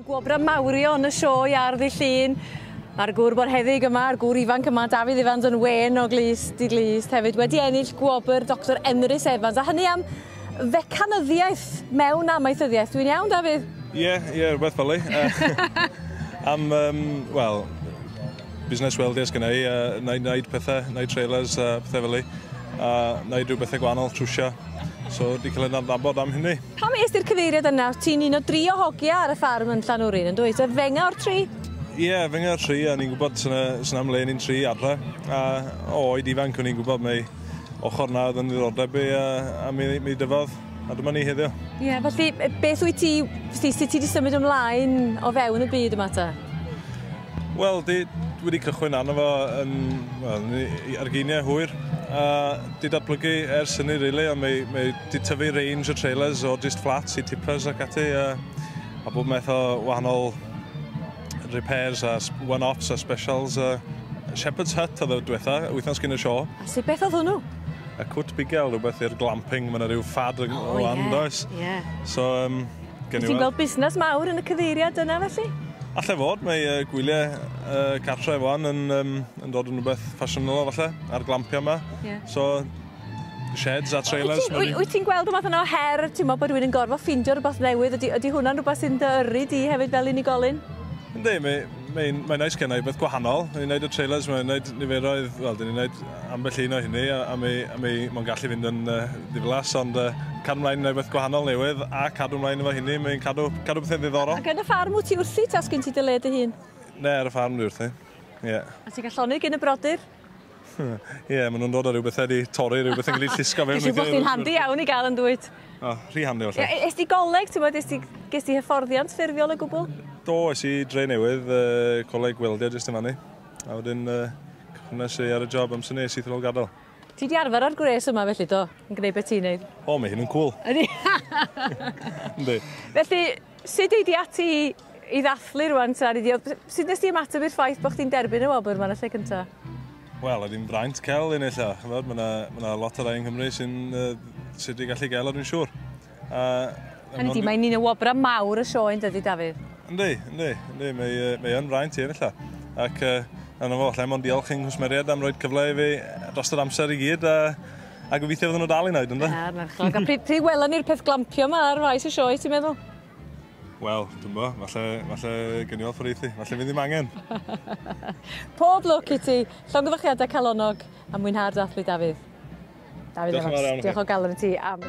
Gwobrau mawrio yn y sioe ar ddi llun. Mae'r gŵr bod heddig yma, a'r gŵr ifanc yma, Dafydd Ifans yn wen o glus di glus, hefyd wedi ennill gwobr Dr Emrys Evans, a hynny am fecanyddiaeth mewn amaethyddiaeth. Dwi'n iawn, Dafydd? Ie, yeah, ie, yeah, rhywbeth fel ei. am, um, wel, busnes weldio sgynna i, a na i wneud pethau, na i trailers a pethau fel i, a na i rhywbeth bethau gwahanol, trwsio. So, di cael ei adnabod am hynny. Pam es ti'r cyfeiriad yna? Ti'n un o dri o hogia ar y ffarm yn Llanwrin, yn dweud? Oedd fenga o'r tri? Ie, yeah, fenga o'r tri, a ni'n gwybod sy'n am le ni'n tri adre. A o oed ifanc o'n i'n gwybod mae ochr na oedd yn ddiddordeb i, a, a mi, mi dyfodd. A dyma ni heddiw. Ie, yeah, felly beth wyt ti, sut ti wedi symud ymlaen o fewn y byd yma ta? Wel, dwi wedi cychwyn arno fo yn, wel, ar geiniau hwyr. A di datblygu ers hynny, really, ond mae, mae di tyfu range o trailers o just flats i tippers ac ati, a, a bob meth o wahanol repairs a one-offs a specials. A Shepherd's Hut oedd y diwetha, wythnos gyn y sio. A sut beth oedd hwnnw? Y cwt bigel, rhywbeth i'r glamping, mae yna rhyw ffad yn oh, o yeah, andoes. Yeah. So, um, Wyt ti'n gweld busnes mawr yn y cyfeiriad yna felly? Allai fod, mae uh, gwyliau uh, cartref wan yn, um, yn dod yn rhywbeth ffasiynol falle, a'r glampiau yma. Yeah. So, sheds a trailers. Wyt ti'n gweld rhywbeth yna o her, ti'n meddwl bod rhywun yn gorfod ffeindio rhywbeth newydd? Ydy, ydy hwnna'n rhywbeth sy'n dy yrru di hefyd fel unigolyn? Ynddi, mae, Mae'n mae nice gen i beth gwahanol. Ni'n gwneud y trailers, mae'n gwneud niferoedd, wel, dyn ni'n gwneud ambell un o hynny, a, a mi, a mi mae'n gallu fynd yn uh, ddiflas, ond uh, cadw mlaen yn beth gwahanol newydd, a cadw mlaen efo hynny, mae'n cadw, cadw bethau ddiddorol. Ac yn y ffarm wyt ti wrthi, ta sgyn ti dy le dy hun? Ne, ar y ffarm dwi wrthi. Yeah. A ti'n gallu llonydd gyn y brodyr? Hmm. Ie, yeah, maen nhw'n dod â rhywbeth wedi torri, rhywbeth yn gallu llusgo fewn. Felly bod chi'n handi iawn i gael yn dwyt. O, oh, rhy handi felly. Yeah, ys ti goleg, ti'n bod, ys ti, ges ti hyfforddiant ffurfiol o gwbl? Do, ys i dre newydd, uh, coleg weldio jyst yn fannu. A wedyn, uh, cychwnes i ar y job amser nes i ddol gadael. Ti di arfer ar gwres yma felly do, yn gwneud beth ti'n neud? O, mae hyn yn cool. Ydy. Yndi. Felly, Sut ei di ati i ddathlu rwan ta? Neu dio- Sut nes di ymateb i'r ffaith bod chdi'n derbyn y wobr 'ma yn y lle cynta? Wel, oedd hi'n fraint cael un ella. Ch'mod, ma' 'na ma' 'na lot o rai yng Nghymru sy'n yy sy 'di gallu gael o dwi'n siŵr. A Hynny ydi, mae'n un o wobrau mawr y sioe yn dydi, Dafydd? Yndi, yndi, yndi, mae yy mae o'n fraint i ennill o. Ac yy arno fo, allai mond diolch i'n nghwsmeriaid am roi'r cyfle i fi dros yr amser i gyd a A gobeithio fydden nhw dal i wneud ynde? Na, marchnad. A pryd, pryd welon ni'r peth glampio yma ar faes y sioe, ti'n meddwl? Wel, dwi'n bo, falle, falle gynnu off reithi, falle mi ddim angen. Pob lwc i ti, llongyfarchiadau calonnog a mwynhau'r dathlu, Dafydd. Dafydd Diolch yn fawr iawn Diolch o galon i ti am...